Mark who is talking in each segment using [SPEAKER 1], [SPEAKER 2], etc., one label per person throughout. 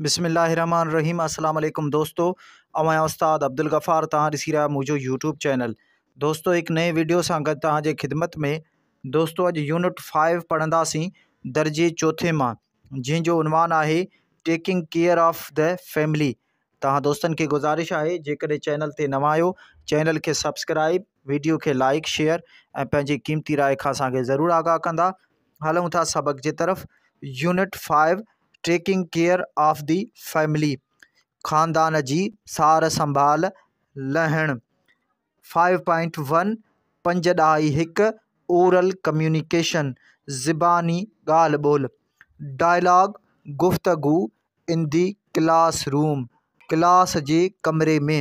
[SPEAKER 1] بسم الله الرحمن الرحيم السلام عليڪم دوستو اوهان استاد عبدالغفار تان ڏسي رهيا منهنجو يوٽيوب چينل دوستو هڪ نئين ويڊيو سان گڏ تان جي خدمت ۾ دوستو اڄ يونٽ 5 پڙهنداسين درجي چوٿين مان جنهن جو عنوان آهي taking care of the family تان دوستن کي گزارش آهي جيڪڏهن چينل تي نوان آهيو چينل کي سبسڪرائب ويڊيو کي لائڪ شيئر ۽ پنهنجي قيمتي راء کان اسان کي ضرور آگاهه ڪندا هلون ٿا سبق جي طرف unit 5 taking care of the family خاندان جي سار سنڀال لهڻ فائيو پوائنٽ ون پنج ڏهائي هڪ اورل ڪميونيڪيشن زباني ڳالهه ٻولهه ڊائلاگ گفتگو ان دي ڪلاس روم ڪلاس جي ڪمري ۾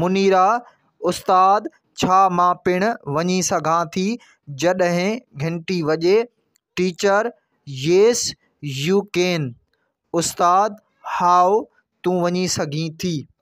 [SPEAKER 1] منيرا، استاد ڇا مان پڻ وڃي سگهان ٿي؟ جڏهن گهنٽي وڄي، ٽيچر، ييس يو ڪين، استاد، هائو، تون وڃي سگهين ٿي.